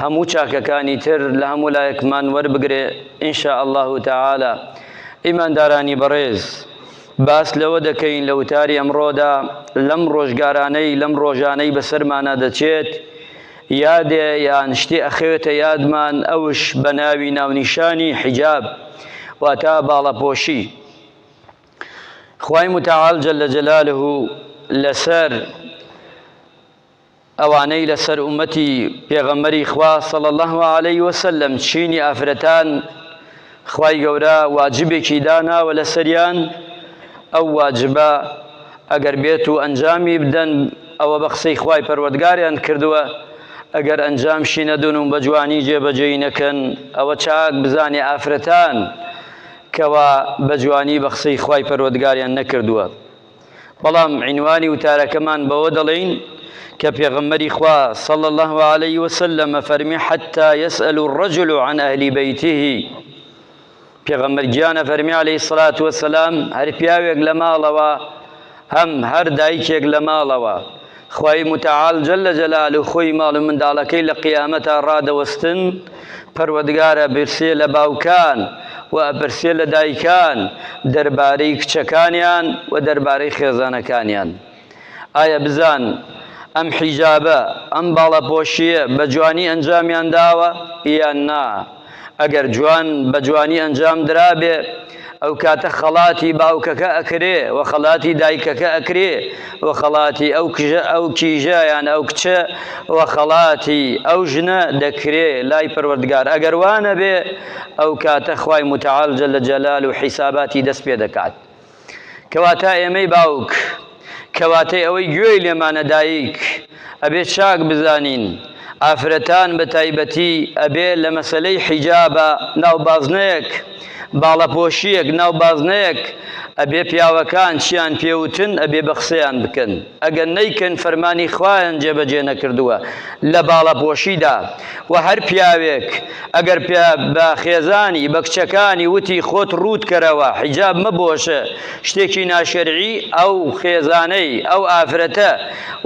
هەموو چاکەکانی تر لە هەموو لایەکمان وەربگرێ ان شاء اللە تعالی ئیماندارانی بەڕێز باس لەوە دەکەین لە وتاری ئەمڕۆدا لەم ڕۆژگارانەی لەم ڕۆژانەی بەسەرمانە دەچێت یادێ یان شتێ ئەخەوێتە یادمان ئەوش بە ناوی ناونیشانی حیجاب واتا باڵەپۆشی خوای متعال جل جلاله لەسەر ئەوانەی لەسەر ئومەتی پێغەمبەری خوا صلی الله علیه وسلم چینی ئافرەتان خوای گەورە واجبێکی داناوە لەسەریان ئەو واجبە ئەگەر بێت و ئەنجامی بدەن ئەوە بە قسەی خوای پەروەردگاریان کردووە ئەگەر ئەنجام شینەدون و بەجوانی جێبەجێی نەکەن ئەوە چاک بزانێ ئافرەتان کەوا بەجوانی بە قسەی خوای پەروەردگاریان نەکردووە بەڵام عینوانی وتارەکەمان بەوە دەڵێین کە پێغەمبەری خوا صلی الله علیه وسلم فەرمی حتی یسأل الرجل عن اهل بیته پێغەمبەر گیانە فەرمی علیه الصلاة والسلام هەر پیاوێک لە ماڵەوە هەم هەر دایکێک لە ماڵەوە خوای متعال جل جلالە خۆی ماڵ و منداڵەکەی لە قیامەتا ڕادەوەستن، پەروەدگار ئەپرسێ لە باوکان و ئەپرسێ لە دایکان دەربارەی کچەکانیان و دەربارەی خێزانەکانیان. ئایا بزان ئەم حیجابە، ئەم باڵاپۆشییە بە جوانی ئەنجامیان داوە یان نا؟ ئەگەر جوان بە جوانی ئەنجام درابێ ئەو کاتە خەڵاتی باوکەکە ئەکرێ و خەڵاتی دایکەکە ئەکرێ و خەڵاتی ئەو کژە ئەو کیژە یان ئەو کچە و خەڵاتی ئەو ژنە دەکرێ لای پەروەردگار ئەگەر وانەبێ ئەو کاتە خوای متعال جل جلال و حیساباتی دەست پێ دەکات کەواتە ئێمەی باوک، کەواتەی ئەوەی گوێی لێمانە دایک، ئەبێ چاک بزانین، ئافرەتان بە تایبەتی ئەبێ لە مەسەلەی حیجابە ناو بازنەیەک، باڵەپۆشییەک ناو بازنەیەک، ئەبێ پیاوەکان چیان پێ وتن ئەبێ بە قسەیان بکەن. ئەگەر نەیکەن فەرمانی خوایان جێبەجێ نەکردووە لە باڵاپۆشیدا، وە هەر پیاوێک ئەگەر پێ بە خێزانی بە کچەکانی وتی خۆت ڕووت کەرەوە حیجاب مەبۆشە شتێکی ناشەرعی ئەو خێزانەی ئەو ئافرەتە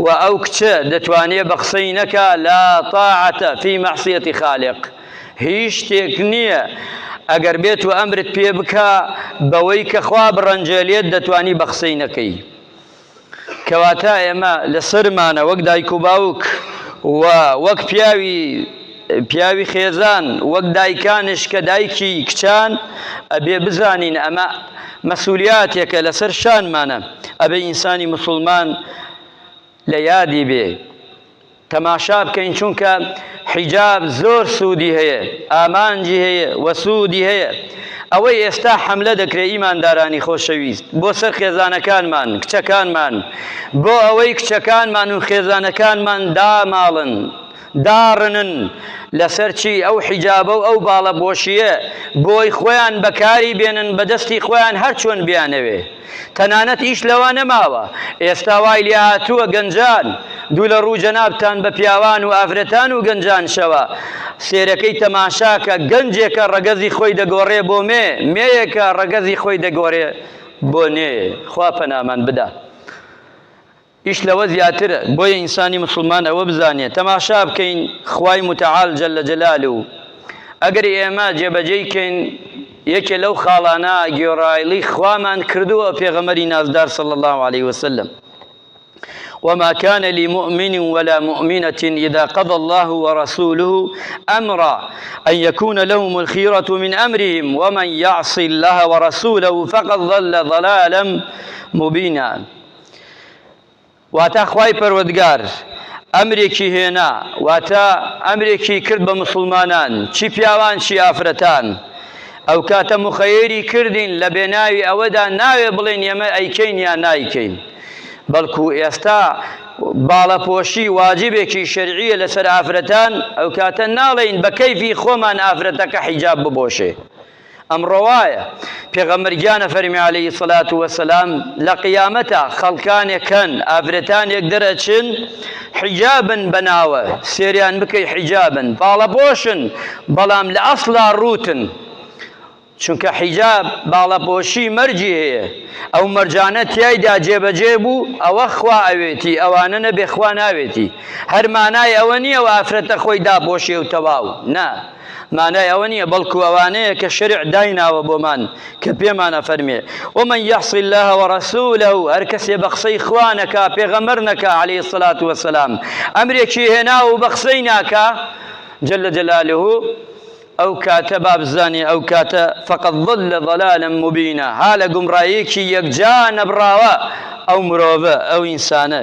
و ئەو کچە دەتوانێ بە قسەی نەکا لا طاعەتە فی معصیەتی خالق هیچ شتێک نییە ئەگەر بێت و ئەمرت پێ بکا بەوەی کە خوا بڕەنجێلێت دەتوانی بە قسەی نەکەی. کەواتە ئێمە لە سەرمانە وەک دایک و باوک و وەک پیاوی پیاوی خێزان وەک دایکانش کە دایکی کچان ئەبێ بزانین ئەمە مەسولیاتێکە لەسەر شانمانە ئەبێ ئینسانی مسلمان لە یادی بێ تەماشا بکەین چونکە حیجاب زۆر سودی هەیە ئامانجی هەیە و سودی هەیە ئەوەی ئێستا حملە دەکرێت ئیماندارانی خۆشەویست بۆ سەر خێزانەکانمان کچەکانمان بۆ ئەوەی کچەکانمان و خێزانەکانمان داماڵن داڕنن لەسەر چی ئەو حیجابە و ئەو باڵە بۆشیە بۆی خۆیان بەکاری بێنن بەدەستی خۆیان هەرچۆن بیانەوێ تەنانەت ئیش لەوە نەماوە ئێستا وای لێهاتووە گەنجان دوو لە ڕوو جەنابتان بە پیاوان و ئافرەتان و گەنجان شەوە سێرەکەی تەماشاکە گەنجێکە ڕەگەزی خۆی دەگۆڕێ بۆ مێ مێیەکە ڕەگەزی خۆی دەگۆرێ بۆ نێ خوا پەنامان بدا. ئیش لەوە زیاترە، بۆیە ئینسانی موسڵمان ئەوە بزانێ تەماشا بکەین خوای متعال جل جلالە و ئەگەر ئێمە جێبەجێی کەین یەکێ لەو خاڵانە گوێڕایەڵی خوامان کردووە پێغەمبەری نازدار صلی اللە علیە وسلم وما كان لمؤمن ولا مؤمنة إذا قضى الله ورسوله أمرا أن يكون لهم الخيرة من أمرهم ومن يعص الله ورسوله فقد ضل ضلالا مبينا واتە خوای پەروەدگار ئەمرێکی هێنا واتە ئەمرێکی کرد بە مسلمانان چی پیاوان چی ئافرەتان ئەو کاتە مخەیری کردین لە بێناوی ئەوەدا ناوێ بڵێن ئێمە ئەیکەین یا نایکەین بەڵکو ئێستا باڵەپۆشی واجبێکی شەرعیە لەسەر ئافرەتان ئەو کاتە ناڵێین بە کەیفی خۆمان ئافرەتەکە حیجاب ببۆشێ ئەم ڕەوایە، پێغەمبەر گیان ئەفەرمێ علیە الصلوة والسلام، لە قیامەتا خەڵکانێک هەن ئافرەتانێک دەرئەچن حیجابن بە ناوە، سێریان بکەی حیجابن باڵەپۆشن بەڵام لە ئەسڵا ڕووتن، چونکە حیجاب باڵەپۆشی مەرجی هەیە، ئەو مەرجانە تیایدا جێبەجێ بوو ئەوە خوا ئەوێتی ئەوانە نەبێ خوا ناوێتی، هەر مانای ئەوە نیە ئەو ئافرەتە خۆی داپۆشێ و تەواو، نا، مانای ئەوە نییە بەڵکو ئەوانەیە کە شەرع دایناوە بۆمان کە پێمان ئەفەرمێ ومن یعص اللە ورسولە هەر کەسێ بە قسەی خوا نەکا پێغەمبەر نەکا عەلەیهی الصلاة والسلام ئەمرێکی هێناوە و بە قسەی ناکا جل جلاله ئەو کاتە بابزانێ ئەو کاتە فقط ضل ضلالا مبینە ها لە گومڕایەکی یەکجا نەبڕاوە ئەو مرۆڤە ئەو ئینسانە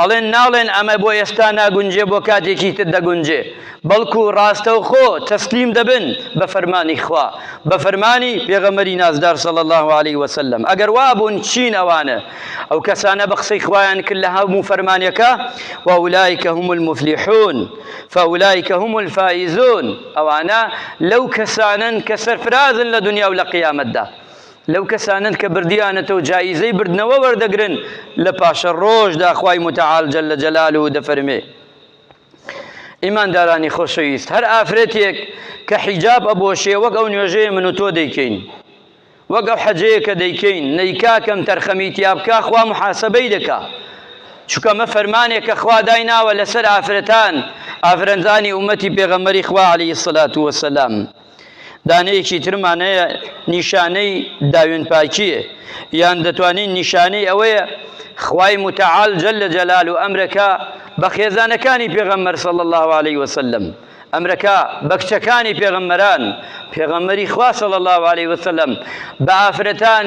ئەڵێن ناڵێن ئەمە بۆ ئێستا ناگونجێ بۆ کاتێکی تر دەگونجێ بەڵکو ڕاستەوخۆ تەسلیم دەبن بە فەرمانی خوا بە فەرمانی پێغەمبەری نازدار صلی الله علیه وسلم ئەگەر وابوون چین ئەوانە ئەو کەسانە بە قسەی خوایان کرد لە هەموو فەرمانەکە وەولایکە هم المفلحون فەولایکە هم الفائزون ئەوانە لەو کەسانن کە سەرفرازن لە دنیا و لە قیامەتدا لەو کەسانەن کە بردیانەتەوە جایزەی بردنەوە وەردەگرن لە پاشەڕۆژدا خوای متعال جل جلاله دەفەرمێ ئیماندارانی خۆشەویست هەر ئافرەتێک کە حیجاب ئەبۆشێ وەک ئەو نوێژەیە من و تۆ دەیکەین وەک ئەو حەجەیە کە دەیکەین نەیکاکەم تەرخەمی تیابکە خوا محاسبەی دەکا چکە مە فەرمانێک کە خوا دای ناوە لەسەر ئافرەتان ئافرەنزانی ئومەتی پێغەمەری خوا عليه الصلاة والسلام دانەیەکی ترمان هەیە نیشانەی داوێن پاکیە یان دەتوانین نیشانەی ئەوەیە خوای متعال جل لە جەلال و ئەمرەکە بە خێزانەکانی پێغەمبەر صلی الله علیه وسلم ئەمرەکە بە کچەکانی پێغەمبەران پێغەمبەری خوا صلی الله علیه وسلم بە ئافرەتان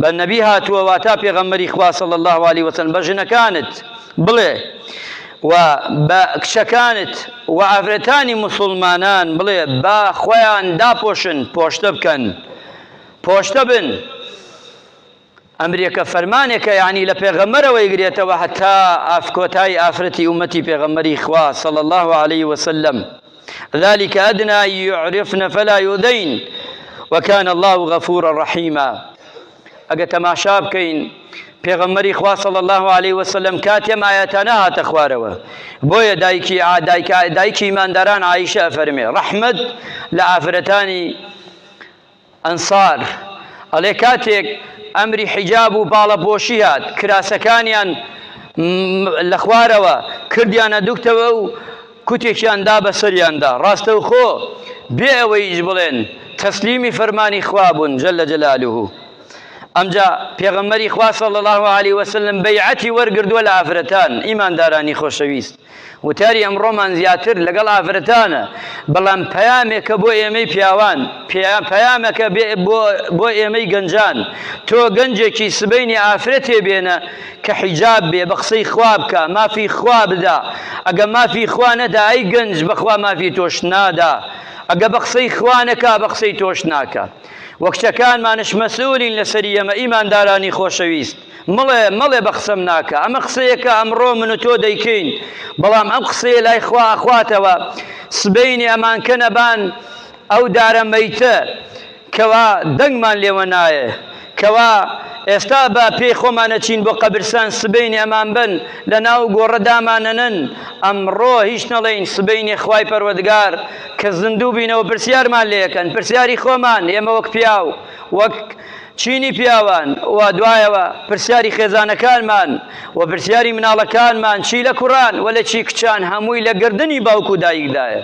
بە نەبی هاتووە واتا پێغەمبەری خوا صلی اللە علیە وسلم بە ژنەکانت بڵێ و بە کچەکانت و ئافرەتانی مسلمانان بڵێ با خۆیان داپۆشن پۆشتە بکەن پۆشتە بن ئەمرێکە فەرمانێکە یعنی لە پێغەمەرەوە یگرێتەوە هەتا ئافکۆتای ئافرەتی ئومەتی پێغەمەری خوا صلی الله عليه وسلم ذلک ادنی ان یعرفن فلا یؤذین وکان اللە غفورا رحیما ئەگە تەماشا بکەین پێغەمبەری خوا صلی الله علیه و سلم کاتی ئەم ئاەتانە هاتە خوارەوە بۆیە دایکی دایک دایکی ئیمانداران عیشە فەرمێ ڕەحمەت لە ئافرەتانی ئەنسار، ئەڵێ کاتێک ئەمری حیجاب و باڵەپۆشی هات، کراسەکانیان لە خوارەوە کردیانە دوکتەوە و کوتێکیان دا بە سەریاندا، ڕاستەوخۆ بێ ئەوەی هیچ بڵێن تەسلیمی فەرمانی خوا بوون جل جلالە. ئەمجا پێغەمبەری خوا صلی اللە علیە وسلم بەیعەتی وەرگردووە لە ئافرەتان، ئیماندارانی خۆشەویست. وتاری ئەمڕۆمان زیاتر لەگەڵ ئافرەتانە، بەڵام پەیامێکە بۆ ئێمەی پیاوان، پەیامەکە بۆ ئێمەی گەنجان، تۆ گەنجێکی سبەینێ ئافرەتێ بێنە کە حیجاب بێ، بە قسەی خوا بکە، مافی خوا بدا، ئەگە مافی خوا نەدا ئەی گەنج بەخوا مافی تۆش نادا، ئەگە بە قسەی خوا نەکا بە قسەی تۆش ناکا. وە کچەکانمانش مەسئولین لەسەری ئێمە ئیماندارانی خۆشەویست. مەڵێ مەڵێ بە قسەم ناکە ئەمە قسەیە کە ئەمڕۆ من و تۆ دەیکەین بەڵام ئەم قسەیە لای خوا ئەخواتەوە سبەینێ ئەمان کە نەبان ئەو دارە مەیتە کەوا دەنگمان لێوە نایە کەوا ئێستا بە پێی خۆمانەچین بۆ قەبرسان سبەینێ ئەمان بن لە ناو گۆڕە دامانەنن ئەمڕۆ هیچ نەڵێین سبەینێ خوای پەروەدگار کە زیندوو بینەوە پرسیارمان لێکەن پرسیاری خۆمان ئێمە وەک پیاو وەک چینی پیاوان و دوایەوە پرسیاری خێزانەکانمان و پرسیاری مناڵەکانمان چی لە کوڕان و لە چی کچان هەمووی لە گردنی باوک و دایکدایە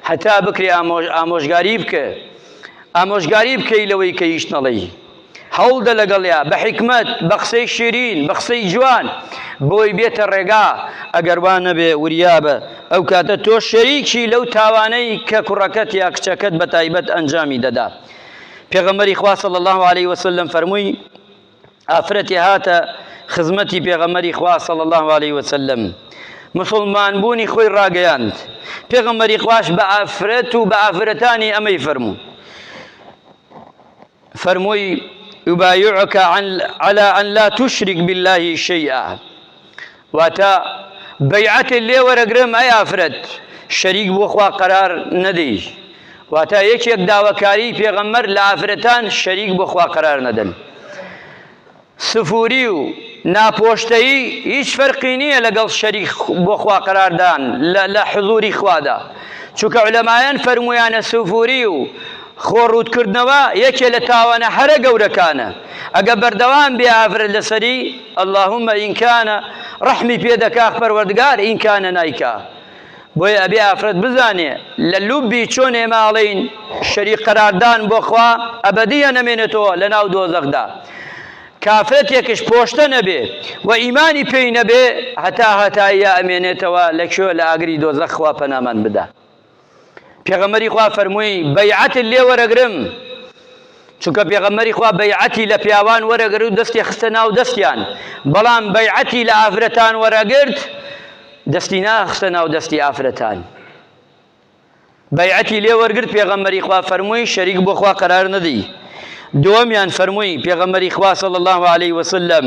هەتا بکرێ ئامۆژ ئامۆژگاری بکە ئامۆژگاری بکەی لەوەی کە هیچ نەڵێی هەوڵدە لەگەڵیا بە حکمت بە قسەی شیرین بە قسەی جوان بۆی بێتە ڕێگا ئەگەر وان نەبێ وریابە ئەو کاتە تۆ شەریکی لەو تاوانەی کە کوڕەکەت یا کچەکەت بە تایبەت ئەنجامی دەدا پێغەمبەری خوا صلی الله علیه و سلم فەرمووی ئافرەتی هاتە خزمەتی پێغەمبەری خوا صلی الله علیه و سلم مسلمان بوونی خۆی ڕاگەیاند پێغەمبەری خواش بە ئافرەت و بە ئافرەتانی ئەمەی فەرموو فەرمووی يبايعك على أن لا تشرك بالله شيئا واتە، بەیعەتێ لێ وەرەگرم ئەی ئافرەت شەریک بۆ خوا قەرار نەدەی، واتە، یەکێک داواکاریی پێغەمبەر لە ئافرەتان شەریک بۆ خوا قەرار نەدەن. سفووری و ناپۆشتەیی هیچ فەرقی نییە لەگەڵ شەریک بۆ خوا قەرار دان لە حزووری خوادا، چونکە عولەمایان فەرموویانە سفووری و خۆ ڕووت کردنەوە یەکێ لە تاوانە هەرە گەورەکانە، ئەگە بەردەوام بێ ئافرەت لەسەری، اللهم ان کان ڕەحمی پێ دەکا پەروەردگار ان کان نایکا بۆیە ئەبێ ئافرەت بزانێ لە لوبی چۆن ئێمە ئەڵێین شەریک قەراردان بۆ خوا ئەبەدیە نەمێنێتەوە لە ناو دۆزەخدا کافرەتێکش پۆشتە نەبێ و ئیمانی پێی نەبێ هەتا هەتاییە ئەمێنێتەوە لە کوێ لە ئاگری دۆزەخوا پەنامان بدا پێغەمبەری خوا فەرمووی بەیعەتت لێ وەرەگرم چونکە پێغەمبەری خوا بەیعەتی لە پیاوان وەرەگر و دەستی خستە ناو دەستیان بەڵام بەیعەتی لە ئافرەتان وەرەگرت دەستی ناخستە ناو دەستی ئافرەتان بەیعەتی لێ وەرگرت پێغەمبەری خوا فەرمووی شەریک بۆ خوا قەرار نەدی دووەمیان فەرمووی پێغەمبەری خوا صلی الله علیه وسلم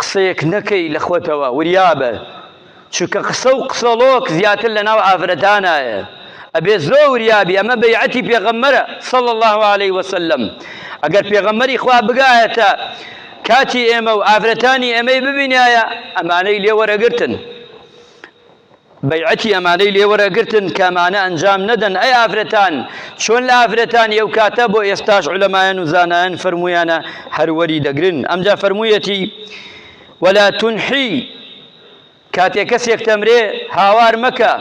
قسەیەک نەکەی لە خۆتەوە وریابە چونکە قسە و قسەڵۆک زیاتر لە ناو ئافرەتانایە ئەبێ زۆ وریابی ئەمە بەیعەتی پێغەممەرە صلی الله علیه وسلم ئەگەر پێغەممەری خوا بگایەتە کاتی ئێمە و ئافرەتانی ئێمەی ببینایە ئەمانەی لێوەرەگرتن بەیعەتی ئەمانەی لێوەرەگرتن کەمانە ئەنجام نەدەن ئەی ئافرەتان چۆن لە ئافرەتانی ئەو کاتە بۆ ئێستاش علەمایەن و زانایەن فەرمویانە هەروەری دەگرن ئەمجا فەرموویەتی ولا تنحی کاتێک کەسێک تەمرێ هاوار مەکە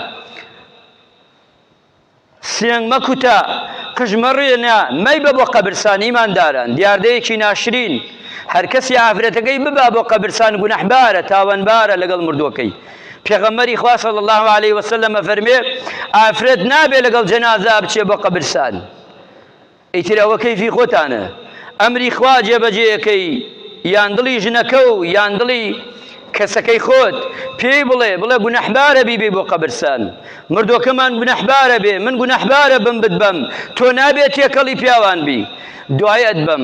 سنگ مەکوتە، قژ مەڕێنە، مەیبە بۆ قەبرسان ئیمانداران دیاردەیەکی ناشرین، هەرکەسی ئافرەتەکەی ببا بۆ قەبرسان گوناحبارە تاوانبارە لەگەڵ مردووەکەی، پێغەمبەری خوا صلی اللە علیە وسلم ئەفەرموێ، ئافرەت نابێ لەگەڵ جەنازە بچێ بۆ قەبرسان. ئیتر ئەوە کەیفی خۆتانە ئەمری خوا جێبەجێ ئەکەی یان دڵی ژنەکەو یان دڵی کەسەکەی خۆت پێی بڵێ بڵێ گونەحبارە بیبەی بۆ قەبرسان مردۆکەمان گونەحبارە بێ من گونەحبارە بم بتبەم تۆ نابێ تێکەڵی پیاوان بی دوای ئەتبەم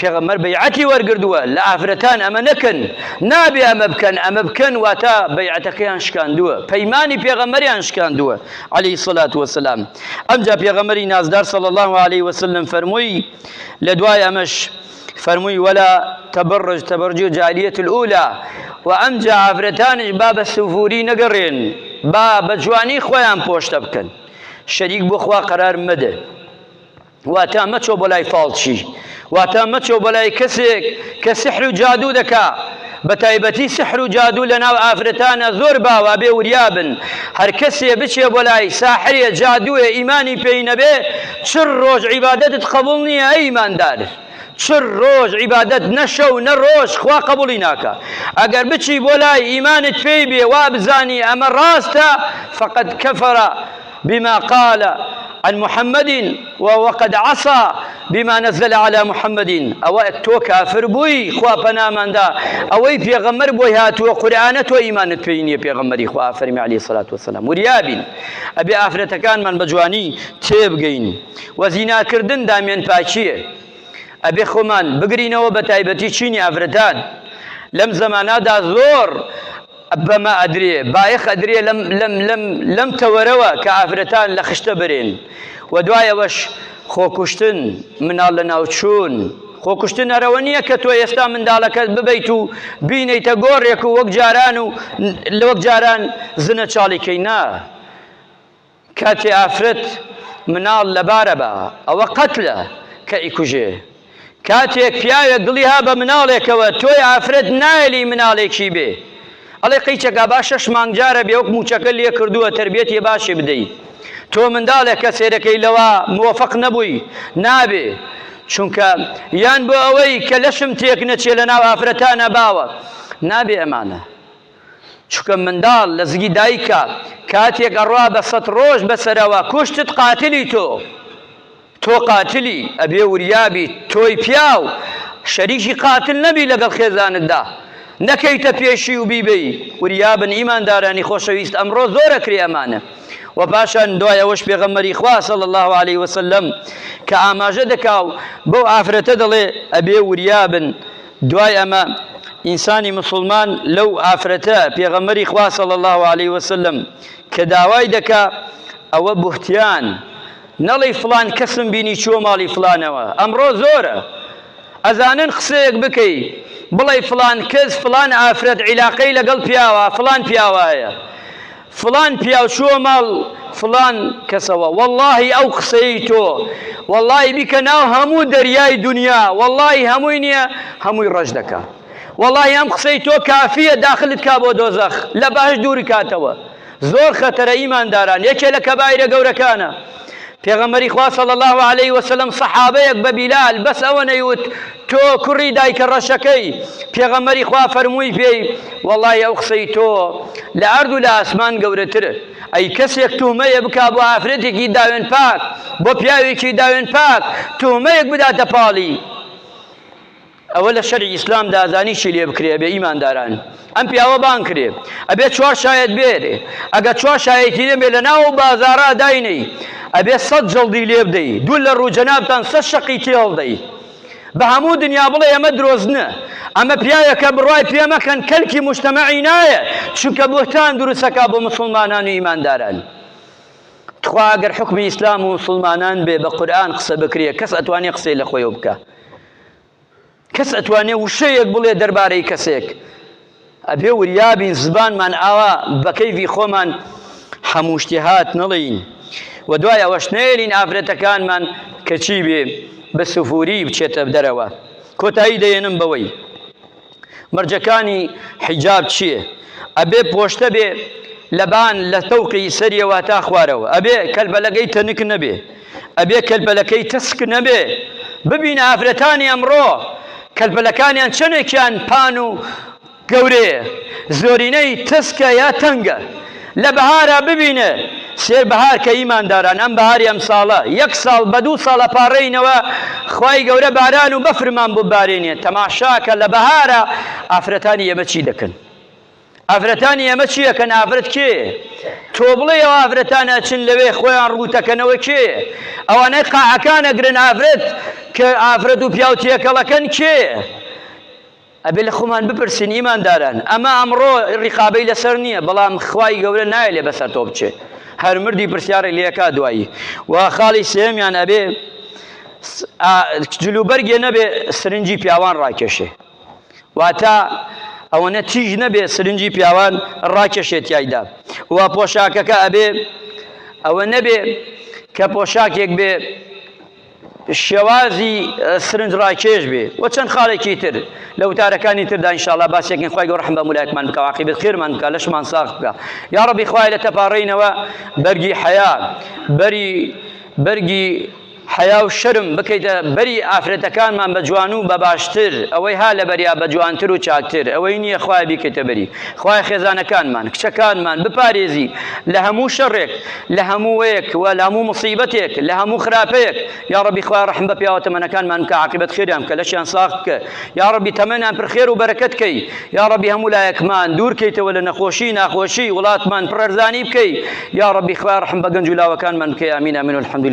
پێغەمبەر بەیعەتی وەرگردووە لە ئافرەتان ئەمە نەکەن، نابێ ئەمە بکەن، ئەمە بکەن واتە بەیعەتەکەیان شکاندووە، پەیمانی پێغەمبەریان شکاندووە علیە الصلوە و السلام، ئەمجا پێغەمبەری نازدار صلی اللە علیە و سلم فەرمووی لە دوای ئەمەش فەرمووی ولا تبرج تبرج الجاهلیە الاولی و ئەمجا ئافرەتانیش با بە سفوری نەگەڕێن با بە جوانی خۆیان پۆشتە بکەن شەریک بۆ خوا قەرار مەدە. واتە مەچۆ بۆ لای فاڵچی واتە مەچۆ بۆ لای کەسێک کە سحر و جادوو دەکا بە تایبەتی سحر و جادوو لە ناو ئافرەتانە زۆر باوە بێ وریابن هەر کەسێ بچێ بۆ لای ساحرێ جادوێ ئیمانی پێی نەبێ چڕ ڕۆژ عیبادەتت قبول نییە ئەی ئیماندار چڕ ڕۆژ عیبادەت نەشە و نە ڕۆژ خوا قبولی ناکە ئەگەر بچی بۆ لای ئیمانت پێی بێ وا بزانی ئەمە ڕاستە فقط کەفەرە بما قال عن محمد وقد عصى بما نزل على محمد ئەوە تۆ کافر بووی خوا پەناماندا ئەوەی پێغەمبەر بۆی هاتووە قورئانە تۆ ئیمانت پێی نییە پێغەمبەری خوا فەرمی علی سلات وسلام وریابین ئەبێ ئافرەتەکانمان بە جوانی تێبگەین و زیناکردن دامێن پاچیە ئەبێ خۆمان بگرینەوە بە تایبەتی چینی ئافرەتان لەم زەمانەدا زۆر بەمە ئەدرێ بایەخ ئەدرێ لەم لەم لەم لەم تەوەرەوە کە ئافرەتان لە خشتە برێن و دوای ئەوەش خۆکوشتن مناڵ لە ناوچوون خۆکوشتن ئەرەوە نییە کە تۆ ئێستا منداڵەکەت ببیت و بینیتە گۆڕێک و وەک جاران و لە وەک جاران زنە چاڵیکەی نا کاتێ ئافرەت مناڵ لەبارە با ئەوە قەتلە کە ئیکوژێ کاتێک پیاوێک دڵی ها بە مناڵێکەوە تۆی ئافرەت نایەلی مناڵێکی بێ ئەڵێ قیچەکە با شەش مانگ جارە بێوک موچەکە لێ کردووە تربێتی باشی بدەی تۆ منداڵێک کە سێرەکەی لەوە مۆفق نەبووی نابێ چونکە یان بۆ ئەوەی کە لەشم تێک نەچێ لە ناو ئافرەتانە باوە نابێ ئەمانە چونکە منداڵ لە زگی دایکە کاتێک ئەڕوا بە سەت ڕۆژ بەسەرەوە کوشتت قاتلی تۆ تۆ قاتلی ئەبێ وریابی تۆی پیاو شەریکی قاتل نەبی لەگەڵ خێزانتدا نەکەیتە پێشی و بیبی وریابن ئیماندارانی خۆشەویست ئەمڕۆ زۆرە کرێ ئەمانە و پاشان دوایەوەش پێغەمەری خواسە الله عليه وسلم کە ئاماژە دەکا و بەو ئافرەتە دەڵێ ئەبێ وریابن دوای ئەمە ئینسانی مسوڵمان لەو ئافرەتە، پێغەمبەری خوا صلی اللە علیە وسلم، کە داوای دەکا ئەوە بوهتیان نەڵێی فڵان کەسم بینی چووە ماڵی فڵانەوە، ئەمڕۆ زۆرە ئەزانن قسەیەک بکەی بڵێی فڵان کەس فڵان ئافرەت عیلاقەی لەگەڵ پیاوا فڵان پیاوا هەیە، فڵان پیاو چووە ماڵ فڵان کەسەوە وەڵاهی ئەو قسەی تۆ وەڵاهی بیکە ناو هەموو دەریای دونیا وەڵاهی هەمووی نییە هەمووی ڕەش دەکا وەڵاهی ئەم قسەی تۆ کافییە داخلت کا بۆ دۆزەخ لە بەهەشت دوورکاتەوە زۆر خەتەرە ئیمانداران یەکێ لە کەبایرە گەورەکانە. پێغەمبەری خوا صلی الله علیه و سلم صحابەیەک بە بیلال بەس ئەوە نەیوت تۆ کوڕی دایکە ڕەشەکەی پێغەمبەری خوا فەرمووی پێی وەڵی ئەو قسەی تۆ لە ئەرد و لە ئاسمان گەورەتر ئەی کەسێک تومەیە بکا بۆ ئافرەتێکی داوێن پاک بۆ پیاوێکی داوێن پاک تومەیەک بداتە پاڵی ئەوە لە شەرعی ئیسلام دا ئەزانی چی لێ بکرێ ئەبێ ئیمانداران ئەم پیاوە بانگ کرێ ئەبێ چوار شایەت بێرێ ئەگەر چوار شایەتی نەبێ لە ناو بازارا داینەی ئەبێ سەد جڵدی لێ بدەی دوو لە ڕوو جەنابتان سەد شەقی تێڵ دەی بە هەموو دنیا بڵێ ئەمە درۆزنە ئەمە پیاوێکە بڕای پێ مەکەن کەلکی مشتەمەعی نایە چونکە بۆتان دروستەکە بۆ مسلمانان و ئیمانداران تخوا ئەگەر حکمی ئیسلام و مسلمانان بێ بە قورآن قسە بکرێ کەس ئەتوانێ قسەی لە خۆی بکە کەس ئەتوانێ وشەیەک بڵێ دەربارەی کەسێک ئەبێ وریابین زبانمان ئاوا بە کەیڤی خۆمان هەموو شتێ هات نەڵێین و دوای ئەوەش نەیەلین ئافرەتەکانمان کەچی بێ بە سفوری بچێتە دەرەوە کۆتایی دەێنم بەوەی مەرجەکانی حیجاب چیە؟ ئەبێ پۆشتە بێ لەبان لە تەوقی سەریەوە تا خوارەوە ئەبێ کەلبەلەگەی تەنک نەبێ ئەبێ کەلبەلەکەی تەسک نەبێ ببین ئافرەتانی ئەمڕۆ کەلبەلەکانیان چەندێکیان پان و گەورەیە زۆرینەی تەسکە یا تەنگە لە بەهارا ببینێ سێ بەهار کە ئیمانداران ئەم بەهاری ئەمساڵە یەک ساڵ بە دوو ساڵ ئەپاڕێینەوە خوای گەورە باران و بەفرمان ببارێنێ تەماشاکە لە بەهارا ئافرەتانی ئێمە چی دەکەن ئافرەتانی ئێمە چیەکەن ئافرەت کێ تۆ بڵێ ئەو ئافرەتان ئەچن لەوێ خۆیان ڕووتەکەنەوە کێ ئەوانەی قاعەکان ئەگرن ئافرەت کە ئافرەت و پیاوتیەکەڵەکەن کێ ئەبێ لە خۆمان بپرسین ئیمانداران ئەمە ئەمڕۆ ڕقابەی لەسەر نییە بەڵام خوای گەورە نایە لێ بەسەر تۆ بچێ هەر مردی پرسیارێک لەکە دوایی و خاڵی سێمیان ئەبێ جلوبەرگێ نەبێ سرنجی پیاوان ڕاکێشێ واتە ئەوەنە تیژ نەبێ سرنجی پیاوان ڕاکێشێت تایدا و پۆشاکەکە ئەبێ ئەوە نەبێ کە پۆشاکێک بێ شێوازی سرنج ڕاکێش بێ و چەند خاڵێکی تر لە وتارەکانی تردا انشاءالله باسێکن خی گەۆ ڕحم بە مولایەکمان بکە واقعی بێت خێرمان بکە لەشمان ساخ بکە یا ڕبی خوای لە تەپاڕینەوە بەرگی حەیا بەری بەرگی حەیا و شەرم بکەیتە بەری ئافرەتەکانمان بە جوان و بە باشتر ئەوەی ها لە بەریا بە جوانتر و چاکتر ئەوەی نییە خخوای بیکەیتە بەری خخوای خێزانەکانمان کچەکانمان بپارێزی لە هەموو شەڕێک لە هەمووەیەک و لە هەموو مصیبەتێک لە هەموو خراپەیەک یا ربی خوای رحم بە پیاوە تەمەنەکانمان بکە عاقبەت خێریان بکە لەشیان ساغ بکە یا ربی تەمەنیان پر خێر و بەرەکەت کەی یا ربی هەموو لایەکمان دوور کەیتەوە لە نەخۆشی ناخۆشی وڵاتمان پڕەرزانی بکەی یا ربی خوای رحم بە گەنج و لاوەکانمان بکەی ئامین ئامین الحمد